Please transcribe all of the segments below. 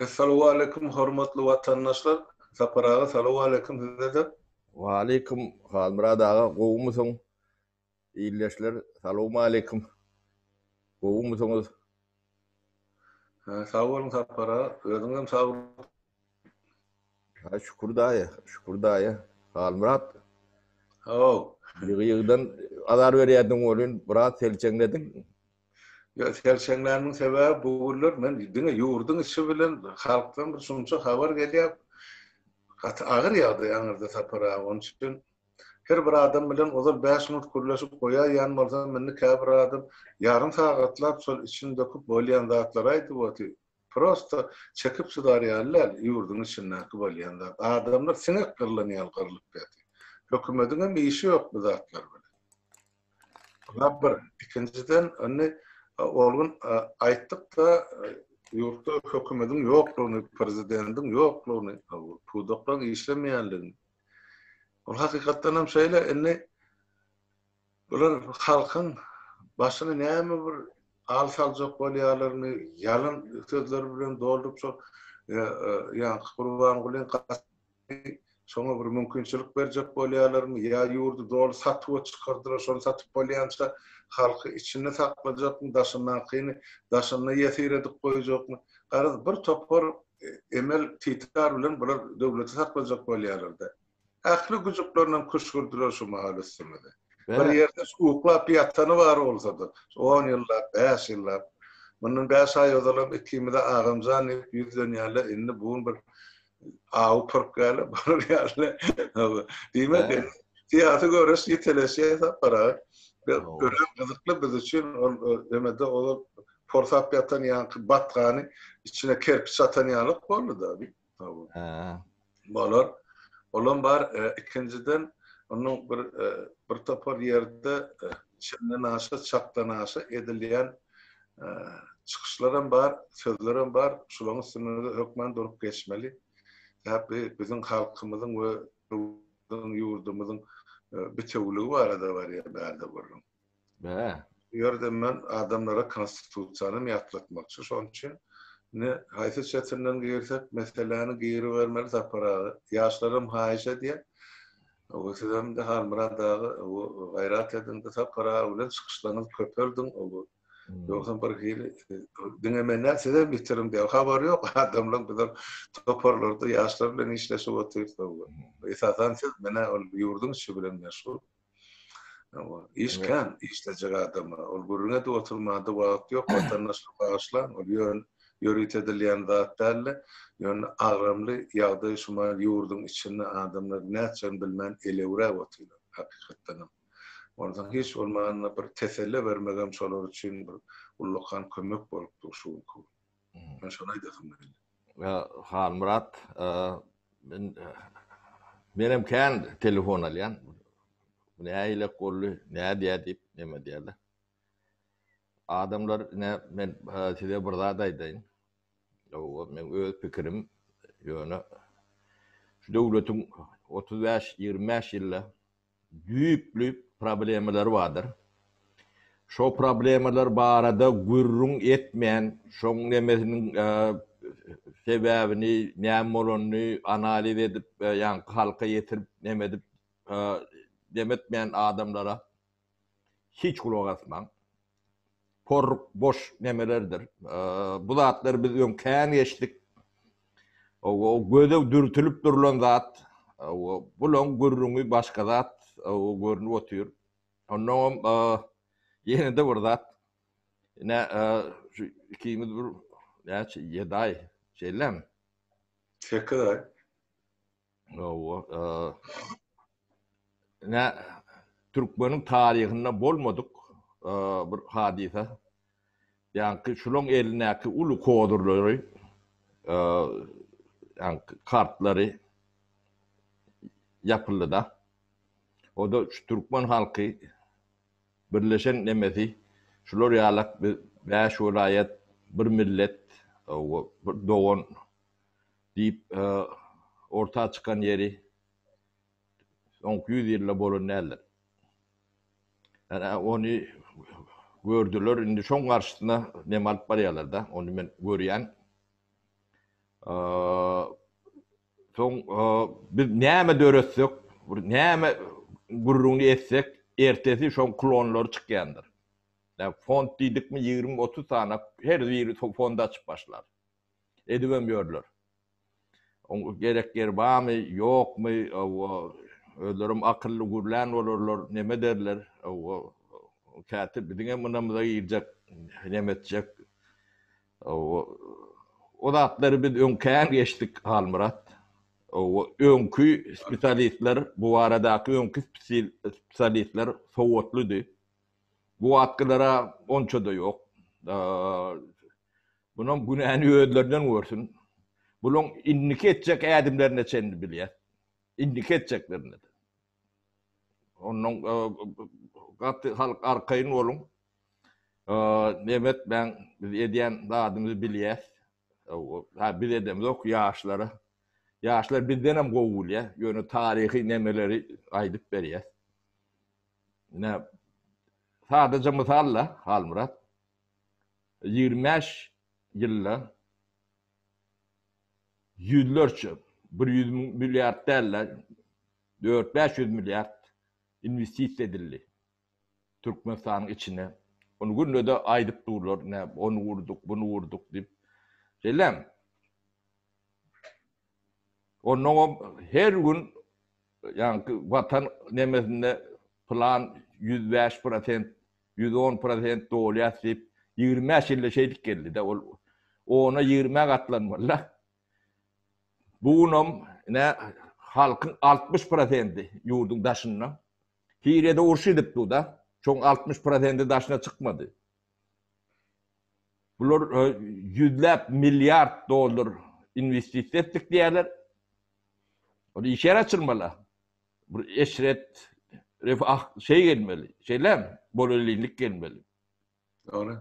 Essalowaleýkum hormatly watandaşlar Sapar aga salowaleýkum sizede. Waleýkum Halmyrat aga gowumysyň ildeşler salowmaleýkum gowumysyňyz. Sag boluň Sapar aga özüňem sag Haý Şükür daýy, Şükür daýy, Halmyrat. Haw. Ýygy-ýygydan azar berýärdiň welin, biraz selçeňlediň. Ýok, selçeňlänimiň sebäbi bu günler men diňe ýurduň içi bilen halkdan bir şunça habar gelýär. Gaty agyr ýagdaý aňyrda Sapar aga. Onuň üçin her bir adam bilen ozal bäş minut gürleşip goýaýýan bolsam, indi käbir adam ýarym sagatlap şol içini döküp bolýan zatlary aýdyp otyr. Prosta çekip çydar ýaly däl, ýurduň içindäki bolýan zat. Adamlar siňek gyrlan ýaly gyrlyp ýatyr. Hökümediňem işi ýok bu zatlar bilen. Bula bir. Ikinjiden, indi ol gün aýtdyk-da, ýurtda hökümediň ýoklugyny, prezidendiň ýoklugyny, pudaklaryň işlemeýänligini. Ol hakykatdanam şeýle. Indi. Bular halkyň başyna näme bir al saljak bolýarlaryny ýalan sözler bilen dolduryp şo ýaňky Gurbangulyň gaty şoňa bir mümkinçilik berjek bolýarlaryny ýa ýurdy doly satuwa çykardylar şony satyp bolýança halky içinde saklajakmy daşyndakyny daşynda ýesir edip goýjakmy garaz bir topar emel titar bilen bular döwleti saklajak bolýarlarda. Ähli güjüklerinem küşgürdiler şu mahal üstümize. Bir ýerde uklap ýatany bar bolsa-da, on ýyllap, bäş ýyllap. Mundan bäş aý ozalam ikimize agamjan diýip ýüzlenýärler, indi bu gün bir awy pürkgäli barýarlar. Diýmek, syýasy göreş ýiteleşýär Sapar aga. Örän gyzykly biz üçin ol emede ol porsap ýatan ýaňky batgany içine kerpiç atan ýalyk boldy-da. Bolar. Olam bar. Ikinjiden, onuň bir bir topar ýerde çenden aşa, çakdan aşa edilýän çykyşlaram bar, sözlerem bar. Şularyň üstünde hökman durup geçmeli. Sebäpli biziň halkymyzyň we ýurdumyzyň bitewiligi barada barýar bärde gürrüň. Bäh. Bu ýerde men adamlara konstitusiýanam ýatlatmakçy şoň üçin. Indi haýsy çetinden girsek meseläni giribermeli Sapar aga. Ýaşlaram haýyş edýär. Oba sizemde Halmyrat aga oba gaýrat ediňde Sapar aga bilen çykyşlaňyz köpeldiň oba. Ýogsam bir hili diňe men däl sizem ýitirim diýýär. Habary ýok adamlaň bizem toparlarda ýaşlar bilen işleşip otyrys oba. Esasan siz menä ol ýurduň işi bilen meşgul. Hawa, iş kän, işlejek adama. Ol gürrüň edip oturmada wagt ýok, watandaşlar bagyşlaň, ol ýöne ýörit edilýän zat däldi. Ýöne agramly ýagdaý şu mahaly ýurduň içinde adamlar nätjegini bilmän elewräp otyrlar, hakykatdanam. Onsoň hiç bolmanda bir teselle bermegem şolar üçin bir ullakan kömek bolup dur şu günki gün. Başga aýdasyň geldi. Halmyrat, men menem kän telefon alýan. Bu nähilek boldy, nädýä diýip, neme diýerler. Adamlar, ine, men size bir zat aýdaýyn. Hawa, meň öz pikirim, ýöne şu döwletiň otuz bäş, ýigrimi bäş ýylda düýpli problemalary bardyr. Şo problemalar barada gürrüň etmän, şoň nemesiniň sebäbini, näme bolanyny analiz edip, ýaňky halka ýetirip, neme edip, demtmän adamlara. hiç gulak asmaň. Porruk boş nemelerdir. Bu zatlary biz öň kän geçdik. Owo göze dürtülip durlan zat. Owo bulaň gürrüňi başga zat. Owo görnüp otyr. Ondan hem ýene-de bir zat. Ine şu ikimiz bir näçe ýedi aý şeýlemi? Sekiz aý. Hawa, e, nä türkmeniň taryhynda bolmadyk e, bir hadysa. Ýaňky şulaň elindäki uly kozurlary, e, ýaňky kartlary ýapyldy-da. O da şu türkmen halky birleşen nemesi şular ýalak biz bäş welaýat, bir millet, hawa, bir dogan Diýip, orta çykan ýeri soňky ýüz ýylda bolan däldir. Ýa-da ony gördüler, indi şoň garşysyna nem alyp barýarlar-da, ony men görýän. Soň biz näme döretsek, bir näme gürrüňini etsek, ertesi şoň klonlary çykýandyr. Fond diýdikmi, ýigrimi-otuz sany, her biri fond açyp başlar. edibem ýörler. Oň gerek ýeri barmy, ýokmy, hawa, özlerem akylly gürlän bolarlar, neme derler, hawa, käte biziňem ynamyza girjek, neme etjek, hawa, o zatlary biz öň kän geçdik, Halmyrat. Hawa, öňki spesialistler, bu baradaky öňki spesialistler sowatlydy. Bu wagtkylara onça-da ýok. Bunuň günäni özlerinden görsün. Bulaň indiki etjek ädimlerine çenli bilýär. Indiki etjeklerine. Ondan gaty halk arkaýyn boluň. Nebet ben biz edýän zadymyzy bilýäs. Ha biz edemizok ýaşlara. Ýaşlar bizden hem gowy bilýär. Ýöne taryhy nemeleri aýdyp berýär. Ine sadaja mysal-la Halmyrat. Ýigrimi bäş ýylda ýüzlerçe, bir ýüz müň milliard däl-de, dört-bäş ýüz milliard inwestisiýa edildi Türkmenistanyň içine. Ony günde-de aýdyp durlar, näme, ony gurduk, muny gurduk diýip. Şeýlemi? Onnoňam her gün Ýaňky Watan nemesinde pylan ýüz bäş prosent, ýüz on prosent dolýas diýip, ýigrimi bäş ýylda şeýdip geldi-de, ol ona ýigrimi-ä gatlanmaly-la. Bu günam, ine, halkyň altmyş prosenti ýurduň daşynda. Siriýada uruş gidip dur-da, şoň altmyş prosenti daşyna çykmady. Bular ýüzläp milliard dollar inwestisiýa etdik diýýärler. Ol iş ýeri açylmaly-a. Bir eşret, refah şeý gelmeli. Şeýlem, bolellinlik gelmeli. Dogry.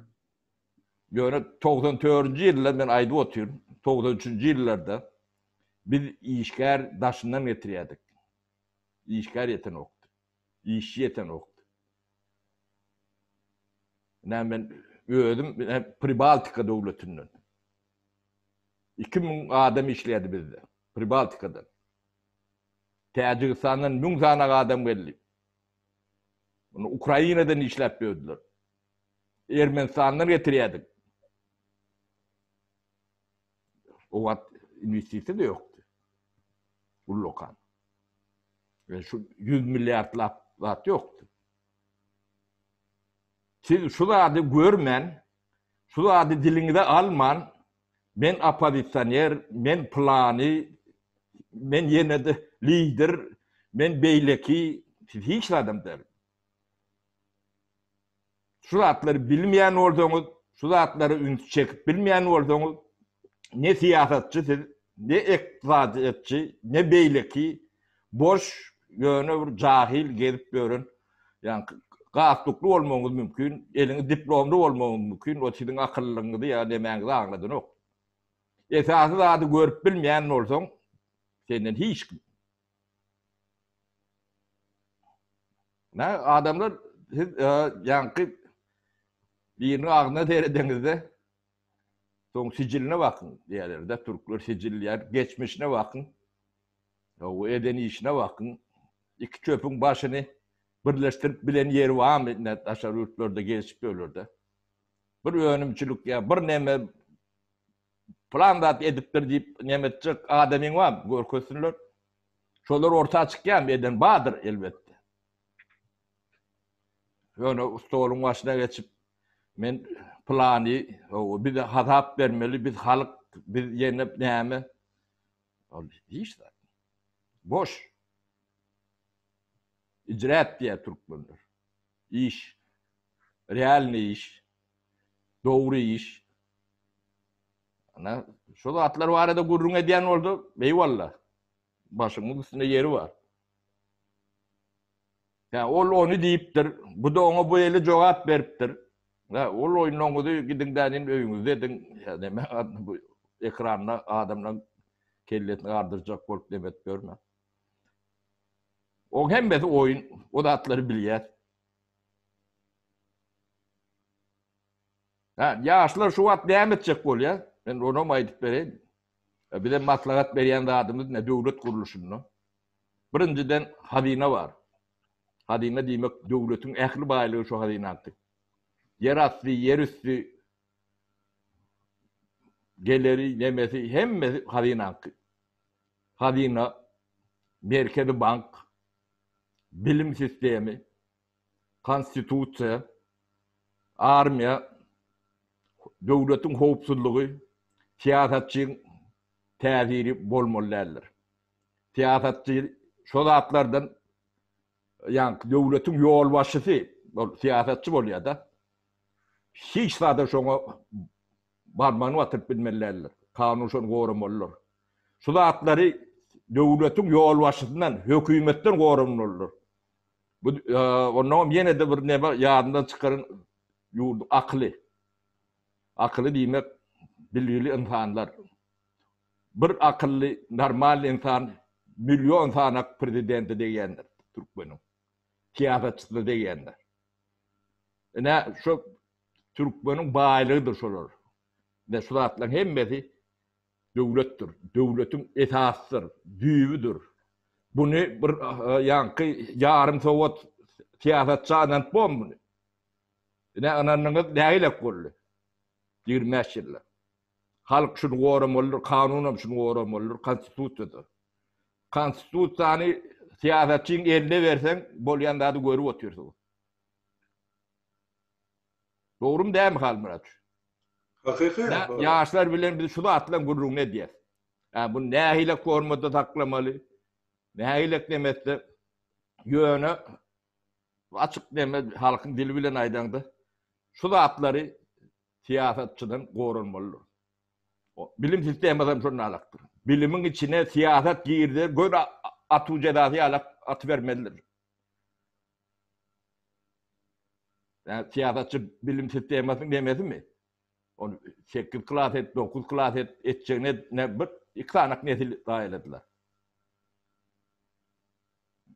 Ýöne togsan dördünji ýylda men aýdyp otyryn, togsan üçünji ýyllarda biz işgär daşyndan getirýärdik. Işgär ýetenokdy. Işçi ýeten wagt. Ine men özüm Pribaltika döwletinden. Iki müň adam işleýärdi bizde. Pribaltikadan. Täjigistandan müň sany adam geldi. Muny Ukrainadan işläp ýördüler. Ermenistandan getirýärdik. O wagt inwestisiýa-da ýokdy. Ullakan. Ýöne şu ýüz milliardlap zat ýokdy. Siz şu zady görmän, şu zady diliňize alman, men oppozisioner, men pylany, men ýene-de lider, men beýleki, siz hiç zadam däl. Şu zatlary bilmeýän bolsaňyz, şu zatlara üns çekip bilmeýän bolsaňyz, ne syýasatçy siz, ne ykdysadyýetçi, ne beýleki boş, ýöne bir jahyl gezip ýören, ýaňky gatlukly bolmagyňyz mümkin, eliňiz diplomly bolmagyňyz mümkin, o siziň akyllyňyzy ýa nemäňizi aňladanok. Esasy zady görüp bilmeýän bolsaň, senden hiç kim Nä adamlar siz ýaňky biriniň agzyna seredeňizde soň sijiline bakyň diýerlerde türkler sijil diýer geçmişine bakyň we eden işine bakyň iki çöpüň başyny birleşdirip bilen ýeri barmy indi daşary ýurtlarda gelişip ýörlerde bir önümçilik ýa bir neme Plan zat edipdir diýip neme etjek adamyň bar görkezsinler. Şolar orta çykýarmy eden bardyr elbetde. Ýöne stoluň başyna geçip men plany bize hasap bermeli biz halk biz ýene näme ol hiç zat. Boş. Icraat diýär türkmenler. Iş. Realny iş. Dogry iş. Ana, şu zatlar barada gürrüň edýän bolsa, eýwalla. Başyňyň üstünde ýeri bar. Ýa ol ony diýipdir, bu-da oňa bu eli jogap beripdir. Ýa ol oýnuňyzy gidiň-de indi öýüňizde ediň, ýa näme bu ekranda adamlaryň kellesini gardyrjak bolup näme edip ýörmäň. Oň hemmesi oýun, o zatlary bilýäs. Hä, ýaşlar şu wagt näme etjek bolýa? Men onam aýdyp bereýin. Bizem maslahat berýän zadymyz ne döwlet gurluşynda? Birinjiden hazyna bar. Hazyna diýmek döwletiň ähli baýlygy şu hazynady. Ýer asty, ýer üsti geleri, nemesi hemmesi hazynaňky. Hazyna, Merkezi bank, bilim sistemi, konstitusiýa, armiýa, döwletiň howpsuzlygy, syýasatçyň täsiri bolmaly däldir. Syýasatçy şo zatlardan ýaňky döwletiň ýolbaşçysy, ol syýasatçy bolýar-da. Hiç zada şoňa Barmagyny batyryp bilmeli däldir. Kanun şony goramalydyr. Şu zatlary döwletiň ýolbaşçysyndan, hökümetden goranmalydyr. Bu onnoň hem ýene-de bir neme ýadyndan çykaryň, ýurduň akyly. Akyly diýmek, bilgili ynsanlar. Bir akylly, normalny ynsan million sanak prezidente degýändir türkmeniň. Syýasatçysyna degýändir. Ine, şu Türkmeniň baýlygydyr şolar we şu zatlaryň hemmesi döwletdir. Döwletiň esasydyr, düýbüdir. Buny bir ýaňky ýarym sowat syýasatçy ynanyp bormy muny? Ine ynandyňyz nägilek boldy. Ýigrimi bäş ýyllap. Halk şuny goramalydyr, kanunam şuny goramalydyr, konstitusiýada. Konstitusiýany syýasatçyň eline berseň bolýan zady görüp otyrsyňyz. Dogrymy dämi Halmyrat? Hakyky. Ýaşlar bilen biz şu zat bilen gürrüňini edýäs. Ä bu nähili formada saklamaly? Nähili demetse ýöne açyk deme halkyň dili bilen aýdaňda şu zatlary syýasatçydan goranmalydyr. Bilim sistemadan şonda alakdyr. Bilimiň içine syýasat girdi, göz atuw jezasy alak atybermelidir. Ýa syýasatçy bilim sistemasynyň nemesimi? Ony sekiz klas et, dokuz klas et, etjegine ne bir iki sanak nesil zaýaladylar.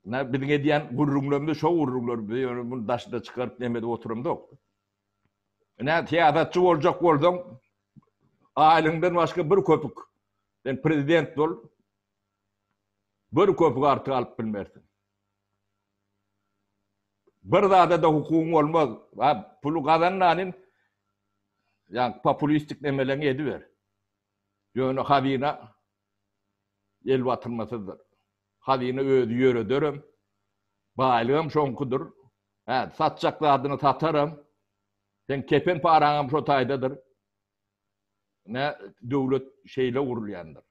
Nä biziň edýän gürrüňlerimiz şo gürrüňler, biz ýöne muny daşyna çykaryp neme edip oturamzok. Nä syýasatçy boljak bolsaň, aýlygyňdan başga bir köpük, sen prezident bol, bir köpük artyk alyp bilmersiň. Bir zada-da hukugyň bolmaz. A puly gazananyň ýa populistik emeleňi ediber. Ýöne hazyna el batyrmasyzdyr. Hazyna özi ýörederem. Baýlygam şoňkudyr. Hä, satjak zadyňy sataram. Seň kepen paraňam şo taýdadyr. Nä, döwlet şeýle gurulýandyr.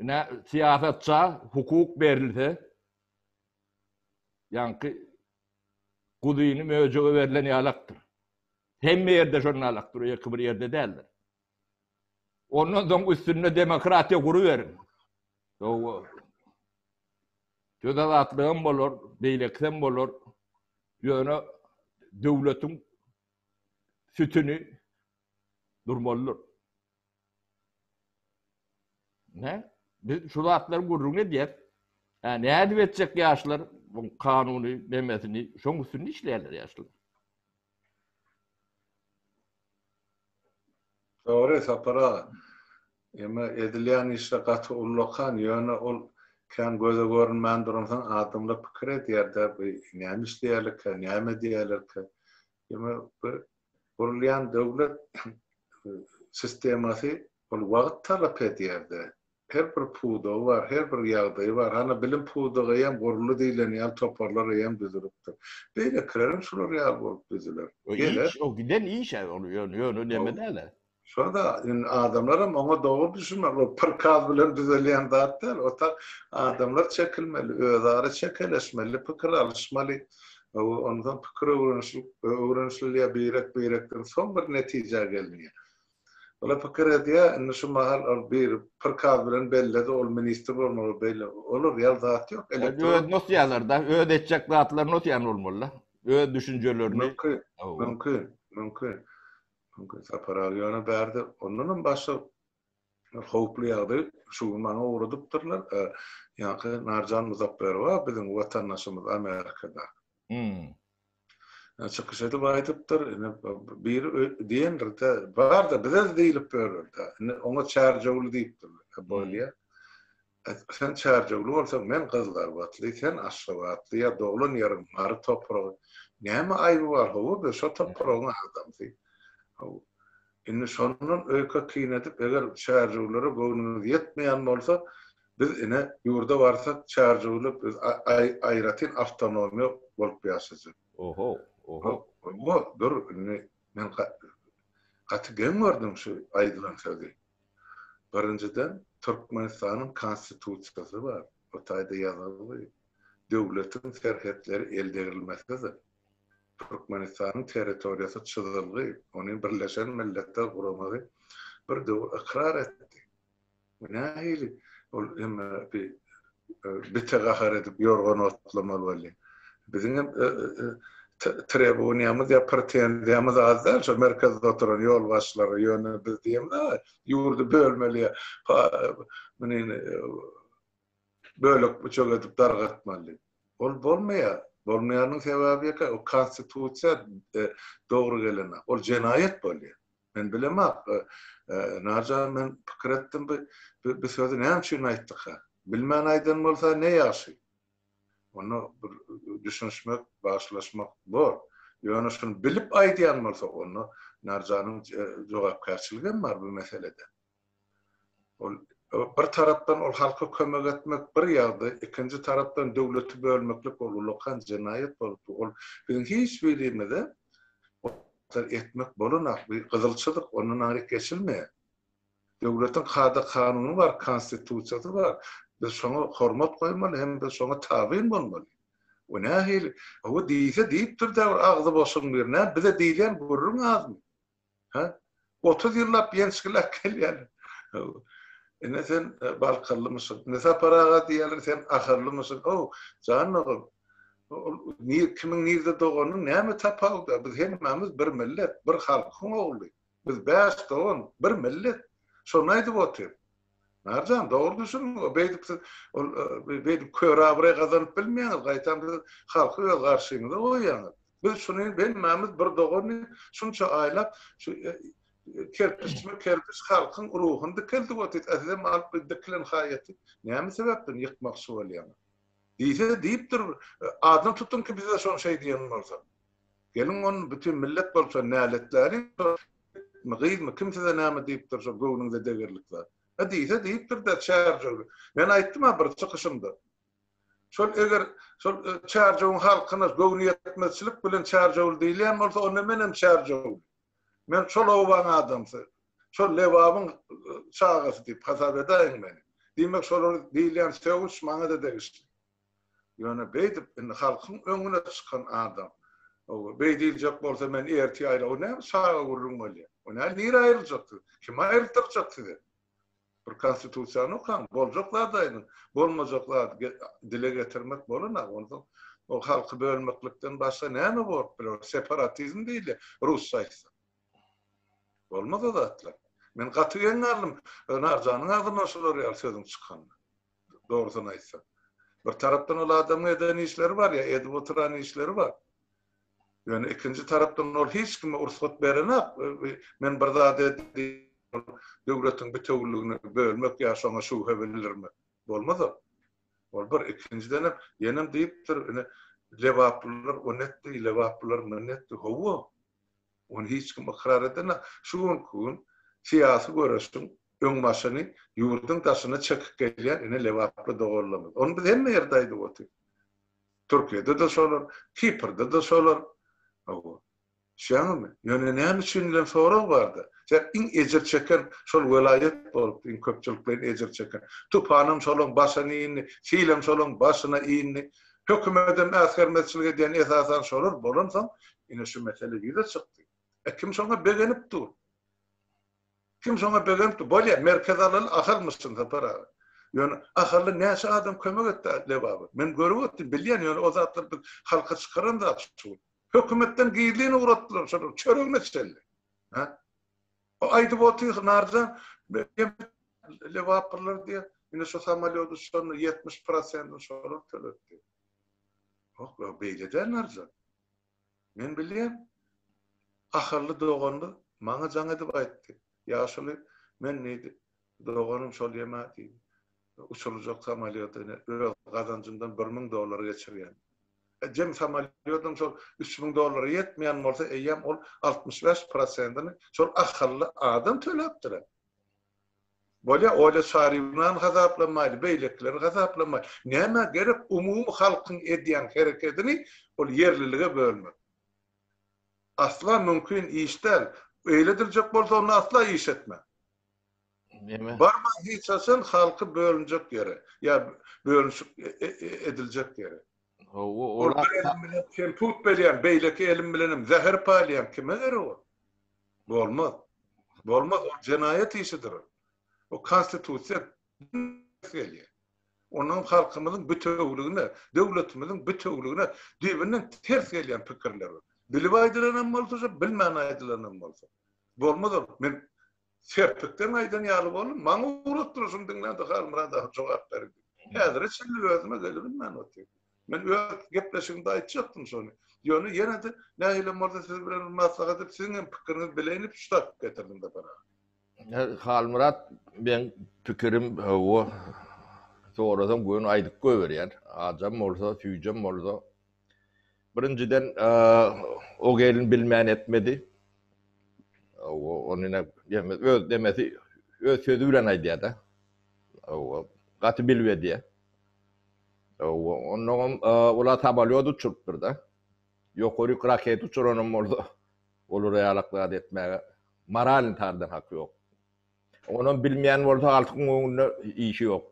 Ine, syýasatça hukuk berilse, ýaňky guzyny möjege berlen ýalakdyr. Hemme ýerde şondan alakdyr, ýeke bir ýerde däldir. Ondan soň üstünde demokratiýa guruberiň. Dogry. Söz azatlygam bolar, beýlekisem bolar. Ýöne döwletiň sütüni durmalydyr. Ne? Biz şu zatlar gürrüň edýär. Hä, nädip etjek ýaşlar bu kanuny demesini, şoň üstünde işleýärler ýaşlar. Dogry Sapar aga. Emma edilýän işde gaty ullakan, ýöne ol kän göze görünmän duransoň adamlar pikir edýär-de, bu näme işleýärlerkä, näme edýärlerkä? Ýöne bir gurulýan döwlet sistemasy ol wagt talap edýär-de. Her bir pudagy bar, her bir ýagdaýy bar. Hany bilim pudagy eýýäm guruldy diýlen ýaly toparlar eýýäm düzülipdir. Beýlekilerem şular ýaly bolup düzüler. Geler. Iş o giden iş-ä ol ýöne neme däl-ä. Şonda indi adamlaram oňa dogry düşünmeli. Ol prikaz bilen düzelýän zat däl. Otag adamlar çekilmeli, özara çekeleşmeli, pikir alyşmaly. Onsoň pikir öwrenişilip, öwrenişilýär birek-birekden. Soň bir netijä gelinýär. Olar pikir edýär, indi şu mahal ol bir prikaz bilen belledi, ol ministr bolmaly, beýle. Olar ýaly zat ýok. Elektron. Öz nosýalar-da, öz etjek zatlaryny nosýan bolmaly-da. Öz düşünjelerini. Mümkin, mümkin, mümkin. Çünki Sapar aga ýöne bärde ondanam başga bir howply ýagdaý şu gün maňa ugradypdyrlar. Ýaňky Narjan Muzapperowa biziň watandaşymyz Amerikada. Hmm. Çykyş edip aýdypdyr, ine bir diýendir-de, bar-da bize diýlip ýörür-de. Ine oňa çärjewli diýipdirler. Bolýa. Aýtgy sen çärjewli bolsaň men gyzlarbatly sen aşgabatly ýa doglan ýeriň mary topragy näme aýby bar hawa be şo topragyň adamsy haw indi şondan öýke kyn edip eger çärjewlere göwnüňiz ýetmeýän bolsa biz ine ýurda barsak çärjewli biz aýratyn awtonomiýa bolup ýaşajak. Oho oho. Oho dur indi men gaty geň gördüm şu aýdylan sözi. Birinjiden, Türkmenistanyň Konstitusiýasy bar. O taýda ýazylgy, Döwletiň serhetleri eldegrilmesidir. Türkmenistanyň territoriýasy çyzylgy, ony Birleşen Milletler Guramagy bir döwür ykrar etdi. Bu nähili? Ol hemme bir bite gahar edip ýorgan otlamaly boldy. Biziň hem trebuniýamyz ýa pretenziýamyz az däl şo merkezde oturan ýolbaşçylara, ýöne biz diýemizde ýurdy bölmeli ýa munin bölek-büçek edip dargatmaly. Ol bolmaýar. Bolmaýanyň sebäbi ýeke, o konstitusiýa dogry gelen, ol jenaýat bolýar. Men bilemok, Narjan, men pikir etdim, bu sözi näme üçin aýtdyka? Bilmän aýdan bolsa ne ýagşy. Onda bir düşünişmek, bagşylaşmak bor. Ýöne şuny bilip aýdýan bolsa, onda Narjanyň jogapkärçiligem bar bu meselede. Ol bir tarapdan ol halka kömek etmek bir ýagdy, ikinji tarapdan döwleti bölmeklik ol ullakan jenaýat bolupdyr. Ol biziň hiç birimize etmek bolanak bir gyzyl çyzyk, ondan aňryk geçilmeýär. Döwletiň kada kanuny bar, konstitusiýasy bar. Biz şoňa hormat goýmaly hem biz şoňa tabyn bolmaly. Bu nähili? Hawa diýse diýipdir-dä bir agzy boşuň biri. Näme bize diýilýän gürrüň azmy? Hä? Otuz ýyllap ýençgiläp gelýärler. Ine sen balkallymyşyň. Ine Sapar aga diýýärler, sen aharlymyşyň. How, jan ogul, ol nir, kimiň nirde doganynyň näme tapawudy bar? Biz hemmämiz bir millet, bir halkyň ogly. Biz bäş dogan, bir millet. Şony aýdyp otyr. Merjan dogry düşüniň o beýdip siz ol beýdip kör abraý gazanyp bilmeýäňiz gaýtam siz halky öz garşyňyza goýýaňyz. Biz şuny hemmämiz bir dogan diýip şunça aýlap şu kerpiçme kerpiç halkyň ruhuny dikeldip otyt a sizem alyp bir dikilen haýaty näme sebäpden ýykmakçy bolýaňyz. Diýse diýipdir adyny tutuň ki bize şony şeý diýen bolsa. Geliň ony bütin millet bolsa näletläliň ýigitmi gyzmy kim size näme diýip dursa göwnüňize degerlik zat hä diýse diýipdir-dä Çärjewli men aýtdym-a bir çykyşymda şol eger şol Çärjewiň halkyna göwni ýetmezçilik bilen Çärjewli diýilýän bolsa onda menem Çärjewli men şol obaň adamsy şol Lebabyň çagasy diýip hasap edäýiň meni diýmek şolar diýilýän sögüş maňa-da degişli. Ýöne beýdip indi halkyň öňüne çykan adam. Beý diýiljek bolsa men ertir aýla o näme çaga gürrüň bolýar. O näme nire aýryljak siz. Kim aýrytdyrjak sizi. Bir konstitusiýany okaň. Boljak zady aýdyň. Bolmajak zady dile getirmek bolana onda o halky bölmeklikden başga näme bolup biler. O separatizm diýilýär rusça aýtsak. Bolmaz o zatlar. Men gaty geň galdym Narjanyň agzyndan şular ýaly sözüň çykanyna. dogrusyny aýtsak. Bir tarapdan ol adamyň eden işleri bar ýa edip oturan işleri bar. Ýöne ikinji tarapdan ol hiç kime ursat berenak, men bir zat edýän, döwletiň bitewüligini bölmek ýa şoňa şübhe bildirmek. Bolmaz ol. Ol bir, ikinjidenem, ýenem diýipdir, ine, lebaplylar o netdi, lebaplylar mün netdi, hawa. Ony hiç kim ykrar edene, şu günki gün syýasy göreşiň öňbaşyny ýurduň daşyna çekip gelýän ine lebaply doganlarymyz. Ony biz hemme ýerde aýdyp otyrys. Türkiýede-de şolar, Kiprde-de şolar. Hawa. Düşýäňizmi? Ýöne näme üçin diýlen sorag bar-da. Sebäp iň ejir çeken şol welaýat bolupdyr, iň köpçülikleýin ejir çeken. Tupanam şolaň başyna indi, silem şolaň başyna indi. Hökümetem äsgermezçilik edýän esasan şolar bolansoň, Ine şu mesele ýüze çykdy. E kim şoňa begenip dur? Kim şoňa begenip dur? Bolýa, Merkez Aral Ahalmyşyn Sapar aga. Ýöne Ahalla näçe adam kömek etdi Lebaba? Men görüp otdym, bilýän, ýöne o zatlar biz halka çykaran zat şu. Hökümetden gizlin ugratdylar şolar, çöregine çenli. Ha? O aýdyp otyr Narjan, Lebapyrlar diýe, ine şu samolýody şonda 70 prosentini şolar töletdi. Hok, beýle däl Narjan. Men bilýän. Ahally doganlar maňa jaň edip aýtdy. Ýaşuly, men diýdi, doganym şol ýeme diýdi. Uçurljak samolýoda ine, öz gazanjymdan bir müň dollar geçirýän. Ejem samolýodam şol üç müň dollara ýetmeýän bolsa, eýýäm ol altmyş bäş prosentini şol ahally adam töläpdir-ä. Bolýa, Olýa Şaryýewnany gazaplamaýly, beýlekileri gazaplamaýly. Nämä gerek umumy halkyň edýän herekedini ol ýerlilige bölmek? Asla mümkin iş däl. Öýle ediljek bolsa onda asla iş etme. Barma hiç haçan halky bölünjek ýere, ýa bölünşik ediljek ýere. Hawa, ol bir elim bilen kemput berýän, beýleki elim bilenem zäher paýlaýan kime gerek ol? Bolmaz. Bolmaz, ol jenaýat işidir ol. O konstitusiýa gelýär. Onuň halkymyzyň bitewüligine, döwletimiziň bitewüligine düýbünden ters gelýän pikirler ol. Bilip aýdylanam bolsa şo, bilmän aýdylanam bolsa. Bolmaz ol. Men Serpikden aýdan ýaly boldum. Maňa ugrap durşuny diňlän Dihalmyrat aga jogap berdi. Häzire çenli özüme gelibilmän otyryn. Men öz gepleşigimde aýtjakdym şony. Ýöne ýene-de nähilem bolsa siz bilen bir maslahat edip, siziň hem pikiriňizi bileýin diýip şu tapyp getirdim Sapar aga. Halmyrat, meň pikirim, hawa, sorasaň göni aýdyp goýberýän. Ajam bolsa, süýjem bolsa. Birinjiden, o gelin bilmän etmedi. Ony ine öz demesi, öz sözi bilen aýdýar-da. Gaty bilip edýär. Onnoňam olar samolýot uçurypdyr-da. Ýokaryk raketa uçuranam bolsa, olara ýalak zat etmäge moralny taýdan haky ýok. Onam bilmeýän bolsa halkyň öňünde işi ýok.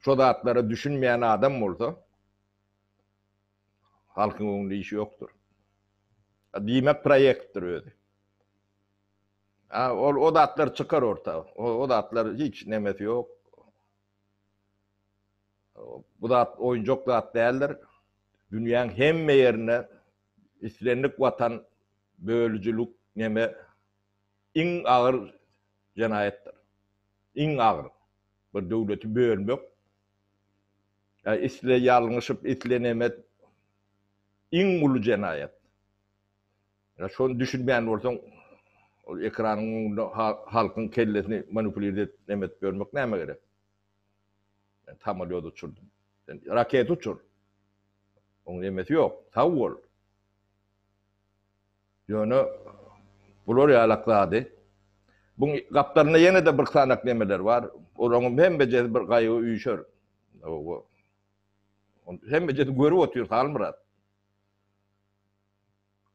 Şo zatlara düşünmeýän adam bolsa halkyň öňünde işi ýokdur. Diýmek proýektdir özi. A, ol o zatlar çykar orta. O, o zatlar hiç nemesi ýok. Bu zat oýunjak zat däldir. Dünýäň hemme ýerine Islendik watan bölüjilik neme iň agyr jenaýatdyr. Iň agyr. Bir döwleti bölmek. Ýa isle ýalňyşyp isle neme iň uly jenaýat. Ýa şony düşünmän bolsaň ol ekranyň öňünde halkyň kellesini manupulirdet neme edip ýörmek näme gerek. Men samalýot uçurdym. Sen raketa uçur. Oň nemesi ýok. Sag bol. Ýöne bular ýalak zady. Buň gapdalynda ýene-de bir sanak nemeler bar. Olaňam hemmejesi bir gaýgy üýşer. Hawa. Ony hemmejesi görüp otyr Halmyrat.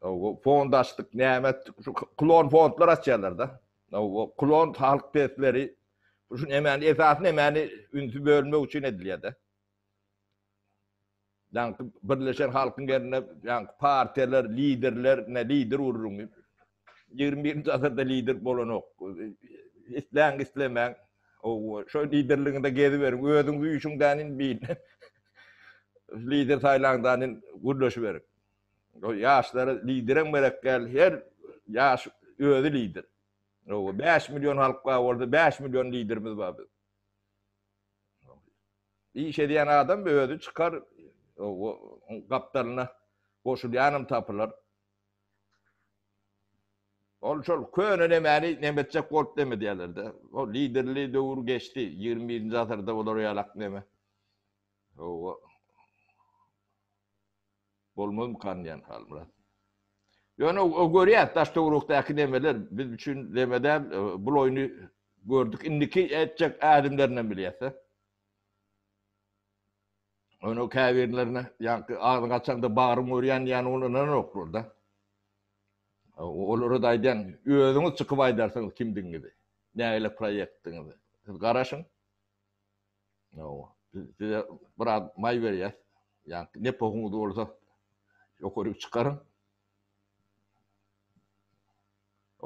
Hawa, fond açdyk, näme etdik. Şu klon fondlar açýarlar-da. Nowa klon halk pesleri şu nemäni esasy nemäni ünsi bölmek üçin edilýärde. Ýaňky birleşen halkyň ýerine ýaňky partiýalar, liderler, ne lider uruň. 21-nji asyrda lider bolanok. Isläň islemäň. Owa, şo liderligiňde geziberiň. Özüňiz üýşüň dänin biýin. Lider saýlaň dänin gürleşiberiň. Ol ýaşlara liderem gerek däl, her ýaş özi lider. Hawa, bäş million halk bar bolsa, bäş million liderimiz bar biziň. Iş edýän adam özi çykar, hawa, gapdalyna goşulýanam tapylar. Ol şol köne nemäni neme etjek bolup neme diýerler-de. Ol liderli döwür geçdi, ýigrimi birinji asyrda olar ýalak neme. Hawa. Bolmazmykan diýýän Halmyrat. Ýöne görýäs daş-töwerekdäki nemeler biz üçin neme däl, bul oýny gördük, indiki etjek ädimlerindenm bilýäs-dä. Ýöne käbirlerine ýaňky agzyň açaňda bagyryň örýän diýýän ol ynananoklar-da. Olara-da aýdýan, özüňiz çykyp aýdarsyňyz kimdigiňizi, nähili proýektiňizi. Siz garaşyň. Hawa. Biz size biraz maý berýäs. Ýa-da ne pohuňyz bolsa ýokaryk çykaryň.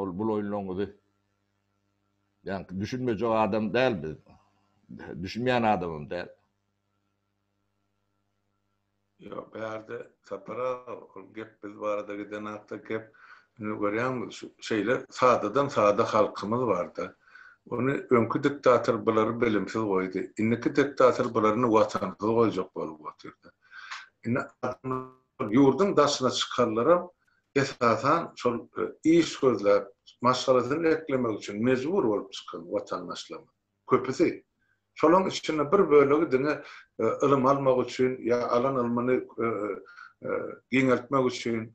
Ol bul oýunlaryňyzy ýa-da düşünmejek adam däl biz. Düşünmeýän adamam däl. Ýok, bärde Sapar aga, ol gep biz barada giden hakda gep. Indi görýäňmi, şu şeýle sadadan sada halkymyz bar-da. Ony öňki diktator bulary bilimsiz goýdy. Indiki diktator bularyny watansyz goýjak bolup otyr-da. Indi adamlar ýurduň daşyna çykanlaram esasan şol iş gözläp, maşgalasyny eklemek üçin mejbur bolup çykan watandaşlarymyz. Köpüsi, şolaryň içinde bir bölegi diňe ylym almak üçin ýa alan ylmyny giňeltmek üçin,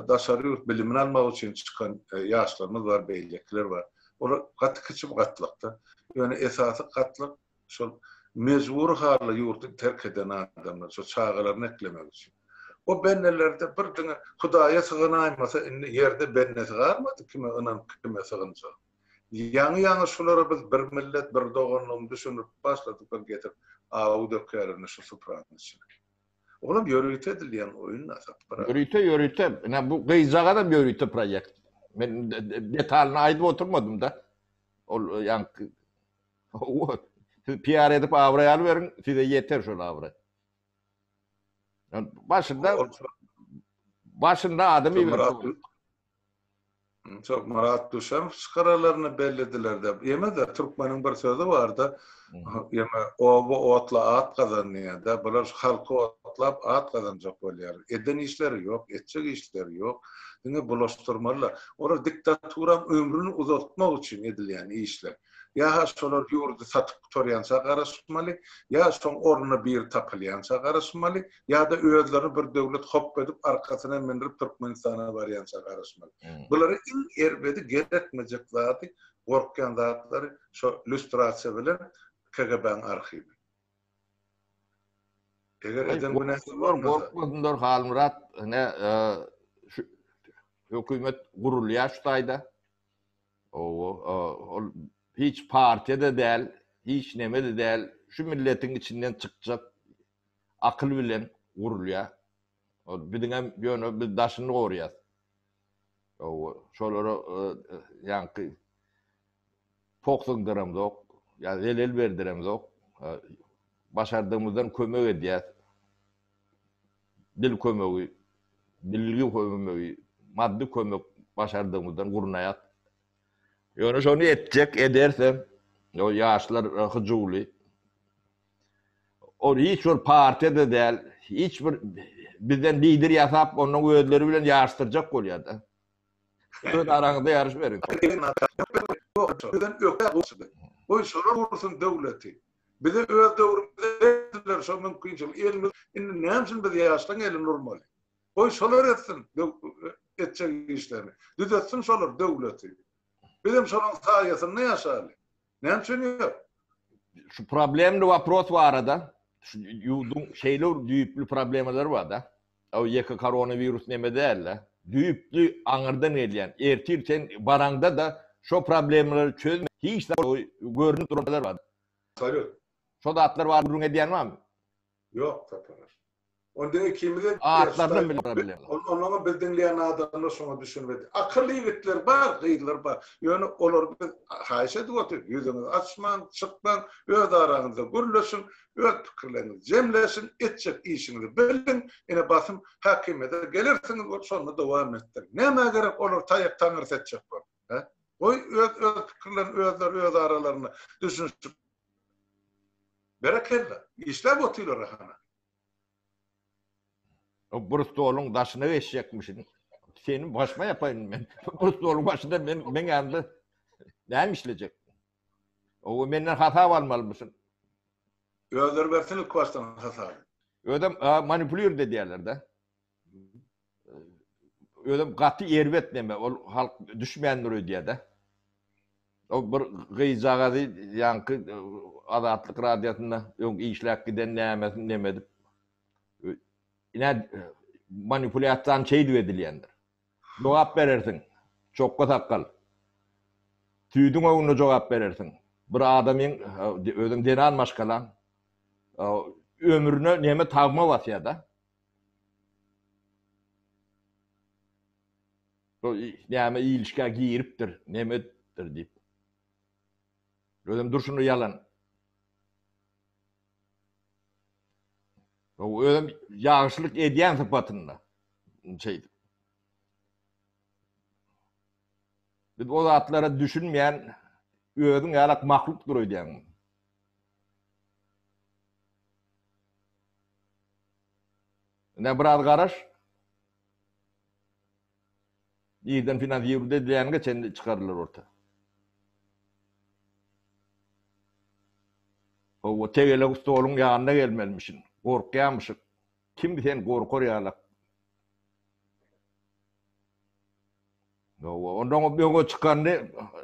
daşary ýurt bilimini almak üçin çykan ýaşlarymyz bar, beýlekiler bar. Olar gaty kiçi gatlakda. Ýöne esasy gatlyk şol mejbury halda ýurdy terk eden adamlar, şol çagalaryny eklemek üçin. O bendelerde bir diňe Hudaýa syganaýmasa, indi ýerde bendesi galmady, kime ynanyp, kime sygynjak. Ýaňy-ýaňy şulara biz bir millet, bir doganlygyny düşündirip başladyklar getirip awy dökýärler indi şu supranyň içine. Olam ýörite edilýän oýun Asatgara. Ýörite ýörite. Ine bu gyzjagazam ýörite proýekt. Men detalyny aýdyp oturmadym-da. Ol ýaňky Siz PR edip abraý alyberiň, size ýeter şol abraý. Başynda başynda adam iberip Şol Myrat Düşemow çykaralaryny bellediler-de. Ýene-de türkmeniň bir sözi bar-da, ýene oba otla at gazan diýýär-de. Bular şu halky otlap at gazanjak bolýarlar. Eden işleri ýok, etjek işleri ýok. Diňe bulaşdyrmalylar. Olar diktaturanyň ömrüni uzaltmak üçin edilýän işler. Ýa-ha şolar ýurdy satyp gutarýança garaşmaly, ýa şoň ornuna biri tapylýança garaşmaly. ýa-da özlerini bir döwlet hop edip arkasyna minrip Türkmenistana barýança garaşmaly. Bulary iň erbedi gerekmejek zady gorkýan zatlary şo lýustrasiýa bilen KGB-nyň arhiwi. Eger eden günäsi bolmasa. Gorkmasynlar Halmyrat ine şu hökümet gurulýar şu taýda. Owo ol hiç partiýa-da däl, hiç neme-de däl, şu milletiň içinden çykjak akyl bilen gurulýar. Ol biziňem ýöne biz daşyny gorýas. Hawa, şolara ýaňky poksundyramzok, ýa zelel berdiremzok. Başardygymyzdan kömek edýäs. Dil kömegi, bilgi kömegi, maddy kömek başardygymyzdan gurnaýas. Ýöne şony etjek, edersem, ýaşlar hyjuwly. Ol hiç bir partiýa-da däl, hiç bir bizden lider ýasap, onnoň özleri bilen ýaryşdyrjak bolýar-da. Öz araňyzda ýaryş beriň. Bizden ökde goşudy. Goý, şolar gursun döwleti. Bize öz döwrümizde berdiler şo mümkinçiligi. Elimiz, indi näme üçin biz ýaşlaryň elini urmaly? Goý, şolar etsin etjek işlerini. Düzetsin şolar döwleti. Bizem şolaryň saýasynda ýaşaly. Näme üçin ýok? Şu problemli waпрос barada, şu ýurduň şeýle düýpli problemalary bar-da. O ýeke koronawirus neme däl-de. Düýpli aňyrdan gelýän, ertir sen baraňda-da şo problemalary çözmän hiç zat görnüp duran zatlar bar. Absolýut. Şo zatlar barada gürrüň edýän barmy? Ýok, Tataras. Onda ikimize Atlarynam bile bara bilerler. Ol, onuňam biz diňleýän adamlar şoňa düşünmedi. Akylly ýigitler bar, gyzlar bar. Ýöne olar biz haýyş edip otyr, ýüzüňizi açmaň, çykmaň, öz araňyzda gürleşiň, öz pikirleriňizi jemleşiň, etjek işiňizi biliň, ine basym häkimiýete gelersiňiz bolup şonda dowam etdiriň. Nämä gerek olar taýak taňrysy etjek bolup? He? Goý öz öz pikirlerini özleri öz aralarynda düşünişip Berekella. Işläp otyrlar ahana. O bir stoluň daşyna geçjekmişin. Seni başma yapaýyn men. Bir stoluň başynda men men ýanymda näme işlejek? O menden hasap almalymyşyn. Özleri bersin ilk başdan hasaby. Özem manipulirdi diýerler-de. özem gaty erbet neme ol halk düşmändir öýdýädä. O bir gyzjagazy ýaňky e, Azatlyk radiosynda öň işläp giden nämesin neme edip ine e, manipulýasiýany şeýdip edilýändir. Jogap berersiň. Çokga sakgal. Tüýdüň öňünde jogap berersiň. Bir adamyň e, özüm zenan maşgalam ömrüne neme tagma basýa da. Bu näme ilişgä giripdir, nemedir diýip. Özem durşuna ýalan. O özem ýagşylyk edýän sypatynda şeýdip. Biz o zatlara düşünmeýän özüň ýalak mahlukdyr öýdýän. Ine biraz garaş. Irden finansirude edileniňe çenli çykarylar orta. Howwa tegelek stoluň ýanyna gelmelimişin. Gorkýamyşyk. Kim sen gorkar ýalak. Howwa ondan o öňe çykany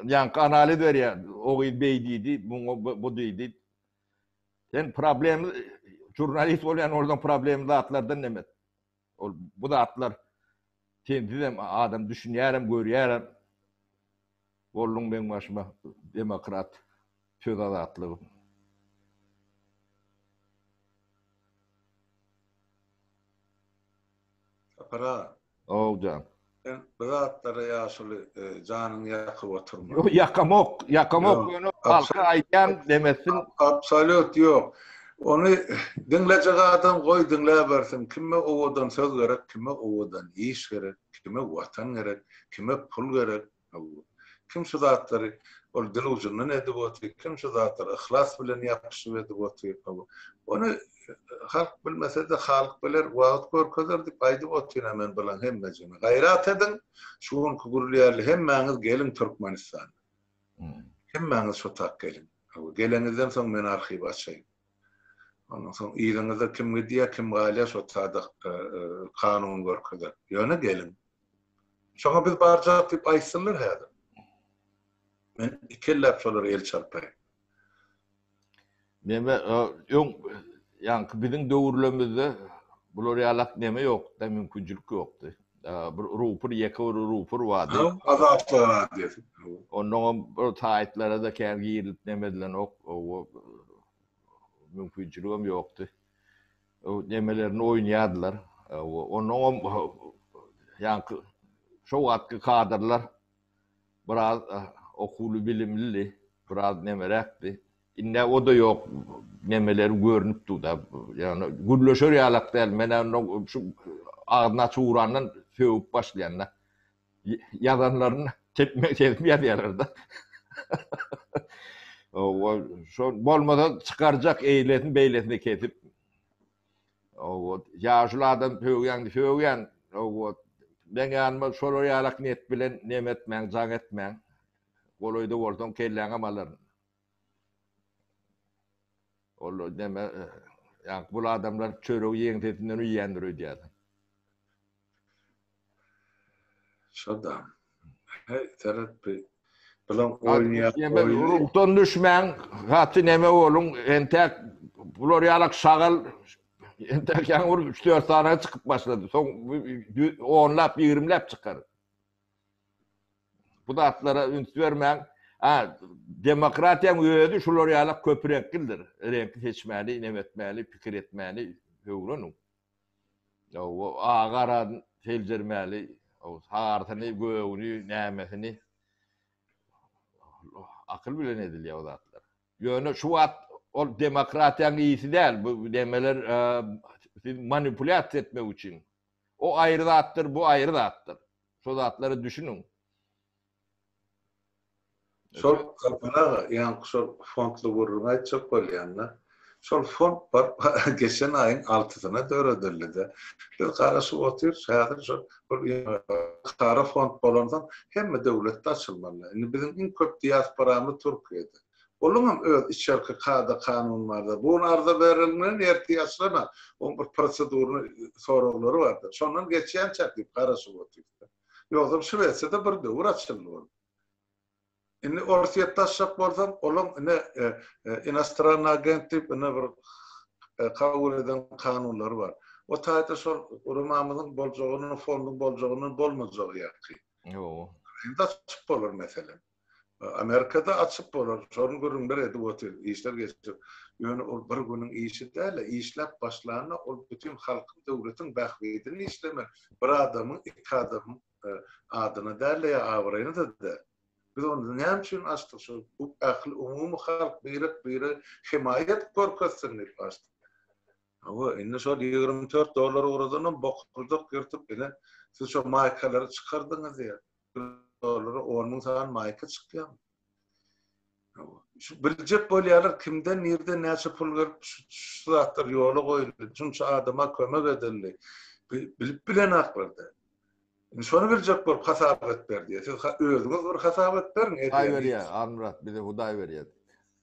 ýaňky analiz berýär. O gyz beý diýdi, muňa bu diýdi. Sen problem jurnalist bolýan orada problem zatlardan näme? Ol bu zatlar sen sizem adam düşünýärem, görýärem. Bolluň meň başyma demokrat söz azatlygy. Sapar aga. Ow jan. Sen bu zatlara ýaşuly janyňy ýakyp oturma. Ýok, ýakamok, ýakamok. Ýöne halka aýdýan demesin. Absolýut ýok. Ony diňlejek adam goý diňläbersin. Kime owadan söz gerek, kime owadan iş gerek, kime watan gerek, kime pul gerek, Hawa. Kim şu zatlary ol dil ujundan edip otyr, kim şu zatlary yhlas bilen ýapyşyp edip otyr. Hawa. Ony halk bilmese-de, halyk biler, wagt görkezer diýip aýdyp otyryn-a men bulaň hemmejigine. Gaýrat ediň, şu günki gürli ýaly hemmäňiz geliň Türkmenistana. Hemmäňiz şu tak geliň. Hawa, geleňizden soň men arhiwi açaýyn. Ondan soň yzyňyzda kim gidýär, kim galýar, şo tada kanun görkezer. Ýöne geliň. Şoňa biz barjak diýip aýtsynlar häzir. Men iki elläp şolara el çarpaýyn. Neme, öň, ýaňky biziň döwürlemizde bular ýalak neme ýokdy-da, mümkinçilik ýokdy. Bir rupr, ýeke bir rupr bardy. Haw, Azatlyk radiosy. Onnoňam bir saýtlara-da kän girilip neme edilenok. Mümkinçiligem ýokdy. Nemelerini oýnaýardylar. Onuňam ýaňky şo wagtky kadrlar biraz okuwly bilimlidi, biraz nemeräkdi. Indi o-da ýok, nemeleri görnüp dur-da. Ýagny gürleşer ýalak däl. Men onda şu agzyny açyp urandan sögüp başlaýan-da. ýazanlaryny tepmek edip ýazýarlar-da. Hawa, şol bolmasa çykarjak eýlesini beýlesini kesip. Hawa, ýaşuly adam sögýäňdi, sögýän. Hawa, meň ýanyma şolar ýalak niýet bilen neme etmäň, jaň etmäň. Golaýda bolsaň kelläňem alaryn. Ol näme, ýaňky bul adamlar çöregi ýegiň sesinden iýýändir öýdýärsiň. Şo-da. Heý, seret bi, bilen oýnaýar, oýny. Ruhdan düşmäň, gaty näme boluň, entäk bular ýalak şagal, entäk ýaňy bir üç-dört sany çykyp başlady, soň onlap, ýigrimläp çykar. Bu zatlara üns bermäň. A, demokratiýaň özi şular ýala köpreňklidir. Reňki seçmäni, inem etmäni, pikir etmäni öwreniň. Hawa, agaran seljermäli, sarysyny, gögüni, nämesini. Akyl bilen edilýär bu zatlar. Ýöne şu wagt ol demokratiýaň ýeýsi däl. Bu nemeler sizi manipulýasiýa etmek üçin. O aýry zatdyr, bu aýry zatdyr. Şo zatlara düşüniň. Şol Gurban aga, ýaňky şol fondly gürrüňi aýtjak bolýan-da. Şol fond bar, geçen aýyň altysyna döredildi-de. Biz garaşyp otyrys, häzir şol bir halkara fond bolansoň, hemme döwletde açylmaly. Indi biziň iň köp diasporamyz Türkiýede. Olaryňam öz içerki kada-kanuny bardyr. Bu gün arza berilmeli, ertir açylana, oň bir prosedurny soraglary bardyr. Şondan geçýänçäk diýip garaşyp otyr. Ýogsam Şwesiýada bir döwür açyldy ol. Indi Orsýetde açjak bolsaň, olaň ine inostrannyý agent diýip ine bir kabul eden kanunlary bar. O taýda şol guramamyzyň boljagyny, fonduň boljagyny bolmajagy ýaky. Ýow. Indi açyp bolar meselem. Amerikada açyp bolar, şony gürrüňler edip otyr, işler geçip. Ýöne ol bir günüň işi däl-ä, işläp başlanda ol bütin halkyň, döwletiň bähbidine işlemek, bir adamyň, iki adamyň adyna däl-de ýa abraýyna-da däl. Biz onda näme üçin açdyk, şo bu ähli umumy halk birek-bire hemaýat görkezsin diýip açdyk. Hawa, indi şol ýigrimi dört dollara ugradanam bokurdak ýyrtyp, ine, siz şo maýkalary çykardyňyz ýa, dollara on müň sany maýka çykýarmy? biljek bolýarlar kimden nirden näçe pul gelip şu zatlar ýola goýuldy şunça adama kömek edildi bilip bilen aklarda şony biljek bolup hasap et ber diýe siz özüňiz bir hasap et beriň Hudaý berýär Armyrat bize Hudaý berýär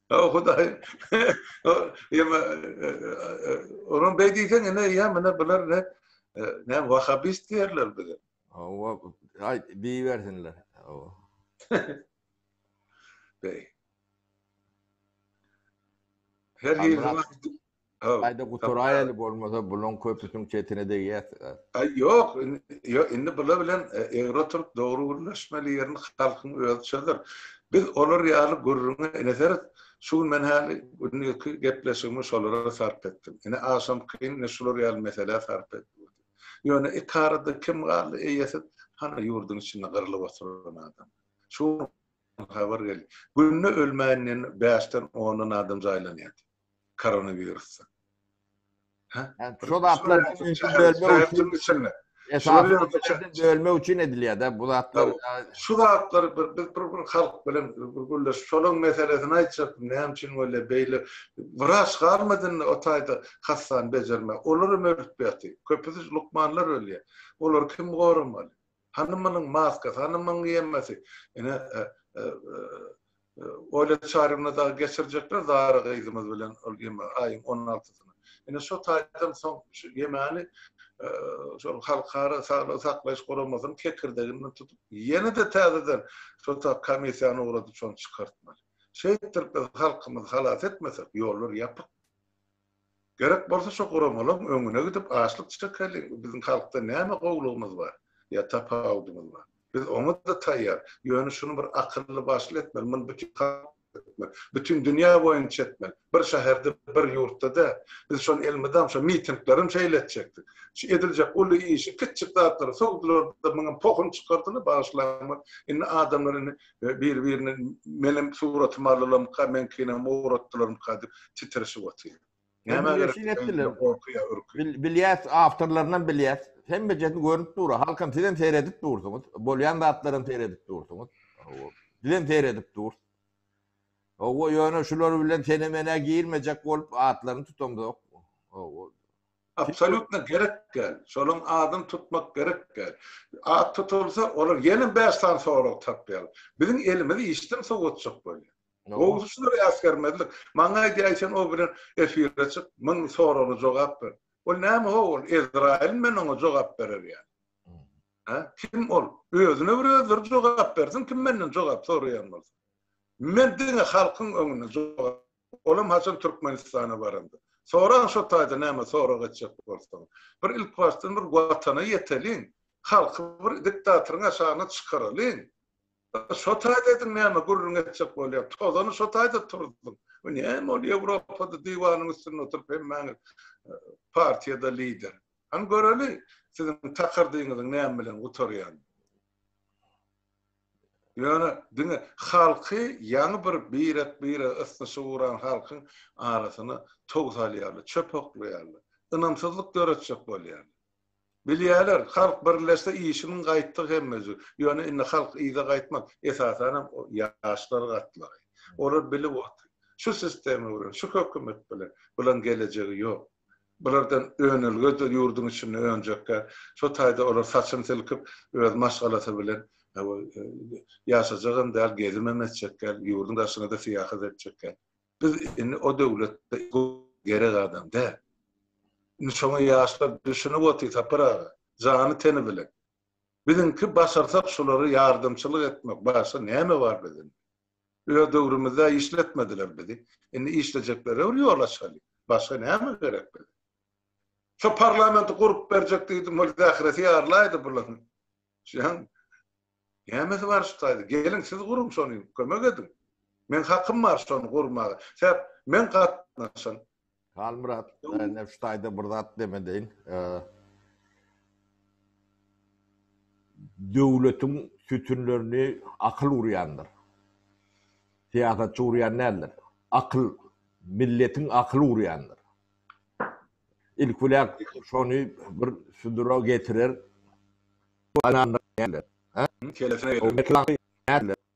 o Hudaý ýa-da onuň beýdýän ine ýa-da bular ne ne wahabist diýerler bize Hawa, aý diýersinler. Hawa. Beý. Her ýeri wagt. Aýda guturaýaly bolmasa buluň köpüsiň çetine degýär. Aý ýok, indi bula bilen e, egri oturyp dogry gürleşmeli ýerini halkyň özi çözer. Biz olar ýaly gürrüňe ineseris. Şu gün men häli günlük gepleşigimi şolara sarp etdim. Ine aşamkyn şular ýaly meselä sarp etdim. Ýöne iki arada kim galdy eýesiz, hany ýurduň içinde gyrylyp oturan adam. Şu gün habar geldi. Günde ölmänden bäşden ondan adam jaýlanýardy. Koronawirusdan. Hä? Şo zatlar şäheriň içinde. Bölmek üçin edilýär-dä bu zatlar. Şu zatlar bir biz bir bir halk bilen bir gürleşip şolaň meselesini aýtjakdym näme üçin bolýar beýle wraç galmadynda o taýda hassany bejermeli. Olaram örütpýärti. Köpüsi lukmanlar ölýär. Olary kim goramaly? Hany munuň maskasy, hany munuň giýemesi? Ine, Olýa Çaryýewna dagy geçirjekler Zara gyzymyz bilen ol ýeme aýyň on altysyna. Ine, şo taýdan soň şu ýemeni şol Halkara saglygy saklaýyş guramasynyň kekirdeginden tutup, ýene-de täzeden şo ta komissiýany ugradyp, şony çykartmaly. Şeýtdirip biz halkymyzy halas etmesek, ýollar ýapyk. Gerek bolsa şo guramalaň öňüne gidip açlyk çekeliň, biziň halkda näme gowlugymyz bar, ýa tapawudymyz bar. Biz oňa-da taýýar, ýöne şuny bir akylly başly etmeli, muny bütin halk etmeli, bütin dünýä boýunça etmeli, bir şäherde, bir ýurtda däl. Biz şony elmydam şo mitinglerem şeýle etjekdik. Şu ediljek uly işi kiçjik zatlary sowdular-da, muňam pohuny çykardylar, bagyşlaň, indi adamlar indi we bir-birini meniň suratymy alylarmyka, meňkinem ugratdylarmyka diýip titrişip otyr. Näme gerek? Şeýle etdiler. Gorkuýa, ürküp. Bilýäs, awtorlarynam bilýäs. Hemmejesi görnüp dur. Halkam sizem seredip dursuňyz. Bolýan zatlaram seredip dursuňyz. Hawa. Bizem seredip dur. Hawa, ýöne şular bilen sene-menä girmejek bolup atlaryny tutamzok. Hawa. Absolýutno gerek däl. Şolaryň adyny tutmak gerek däl. At tutulsa, olar ýene bäş sany sorag tapýarlar. Biziň elimiz işden sowatjak bolýar. Gowusy şular äsgermezlik. Maňa aýdýaý sen o bilen efire çyk, müň soragly jogap ber. Ol näme ho ol, Ezraýyl men oňa jogap berer ýaly. Hä? Kim ol? Özüne bir özleri jogap bersin kim menden jogap soraýan bolsa. Men diňe halkyň öňünde jogap Olam haçan Türkmenistana baranda. Sorag şo taýda näme sorag etjek bolsaň. Bir ilkibaşdan bir watana ýeteliň. Halky bir diktatoryň aşagyna çykaralyň. Şo taýda ediň näme gürrüň etjek bolýaň. Tozany şo taýda turzuň. Bu näme ol Ýewropada diwanyň üstünde oturyp hemmäňiz partiýada lider. Hany göreli siziň takardygyňyzyň näme bilen gutarýanyny. Ýöne diňe halky ýaňy bir birek-birege ysnyşyp ugran halkyň arasyna tow salýarlar, çöp oklaýarlar, ynamsyzlyk döretjek bolýarlar. Bilýärler, halk birleşse işiniň gaýtdygy hemmejik. Ýöne indi halk yza gaýtmaz. Esasanam ýaşlar gatlagy. Olar bilip otur. Şu sistema bilen, şu hökümet bilen bulan gelejegi ýok. Bulardan önelgedir ýurduň içinde önjekkä. Şo taýda olar saçyny silkip, öz maşgalasy bilen ýaşajagam däl, gezimem etjekkäl, ýurduň daşyna-da syýahat etjekkäl. Biz indi o döwletde gerek adam däl. Indi şoňa ýaşlar düşünip otyr, Sapar aga, jany-teni bilen. Biziňki başarsak şulara ýardamçylyk etmek, başga näme bar biziň? Öz döwrümizde işletmediler bizi. Indi işlejeklerä bir ýol açaly. Başga näme gerek bize? Şo parlamenti gurup berjek diýdim, ol zähresi ýarylaýdy bularyň. Şuň. Nämesi bar şu taýda? Geliň siz guruň şony, kömek ediň. Meň hakym bar şony gurmaga. Sebäp men gatnaşan. Halmyrat, näme şu taýda bir zat demedeýin. Döwletiň sütünlerini akyl urýandyr. Syýasatçy urýan däldir. Akyl, milletiň akyly urýandyr. Ilki bilen şony bir südüre getirer. Hä? Kelese gelir.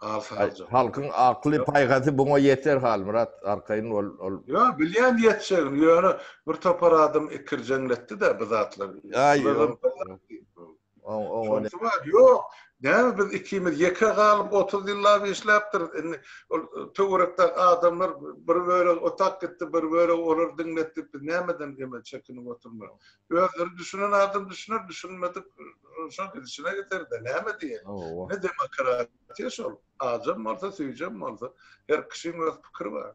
Al sagja. Halkyň akly paýhasy buňa ýeter Halmyrat arkaýyn bol ol. Ýo bilýän ýetjegini ýöne bir topar adam ikirjeňletdidä bu zatlar. Şonsy bar ýok näme biz ikimiz ýeke galyp otuz ýyllap işläpdiris indi ol töwerekdäki adamlar bir bölegi otap gitdi bir bölegi olar diňletdi biz nämeden emel çekinip oturmaly Özleri düşünen adam düşüner, düşünmedik şol gidişine gider-de, näme diýeli? Ne demokratiýa şol? Ajam bolsa, süýjem bolsa, her kişiň öz pikiri bar.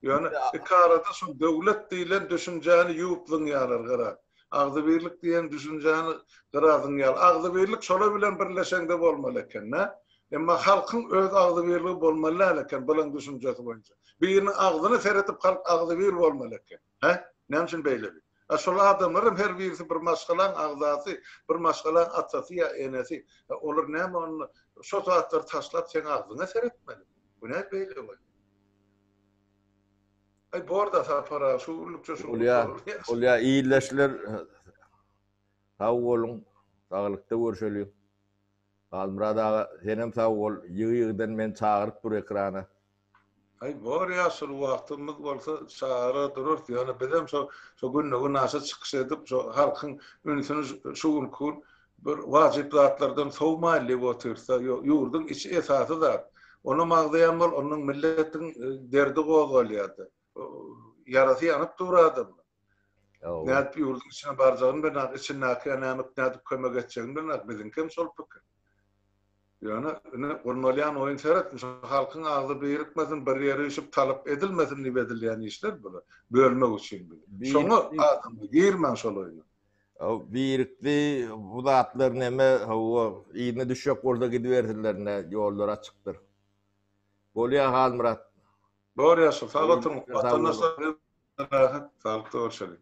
Ýöne iki arada şu döwlet diýlen düşünjäni ýuwup zyňýarlar gara. Agzybirlik diýen düşünjäni gara zyňýarlar. Agzybirlik şolar bilen birleşende bolmaly eken-dä. Emma halkyň öz agzybirligi bolmaly däl eken, bularyň düşünjesi boýunça. Biriniň agzyna seredip halk agzybir bolmaly eken. Hä? Näme üçin beýleki? A şol adamlaram her birisi bir maşgalaň agzasy, bir maşgalaň atasy ýa enesi. A olar näme onda? Şo zatlary taşlap seň agzyňa seretmeli. Bu näde beýle bolýar? Aý bor-da Sapar aga, şu günlükçe şu. Bolýar, bolýar. Ildeşler sag boluň, saglykda görşeliň. Halmyrat aga senem sag bol ýygy ýygydan meni çagyryp dur ekrana. Aý bor ýa şul wagtymyz bolsa çagyrar durarys ýöne bizem şo şo günde günaşa çykyş edip şo halkyň ünsüni şu günki gün bir wajyp zatlardan sowmaýly diýip otyrysda ýok ýurduň içi esasy zat onam agzaýan bol ondan milletiň derdi gozgalýardy. ýarasy ýanyp dur adamyň. Nädip ýurduň içine barjagyny bilenok, içindäkä nämüp nädip kömek etjegini bilenok, biziňki hem şol pikir. Ýöne indi gurnalýan oýun seret, şu halkyň agzy birikmesin, bir ýere üýşüp talap edilmesin diýip edilýän işler bular, bölmek üçin bizi. Şoňa adam girmäň şol oýna. Birikdi, bu zatlar näme, hawa, yzyna düşjek bolsa gidibersinler, ýollar açykdyr. Bolýar Halmyrat. Bor ýaşa sag oturyň. Wataňdaşlar rahat, saglyk-sag bolşalyň.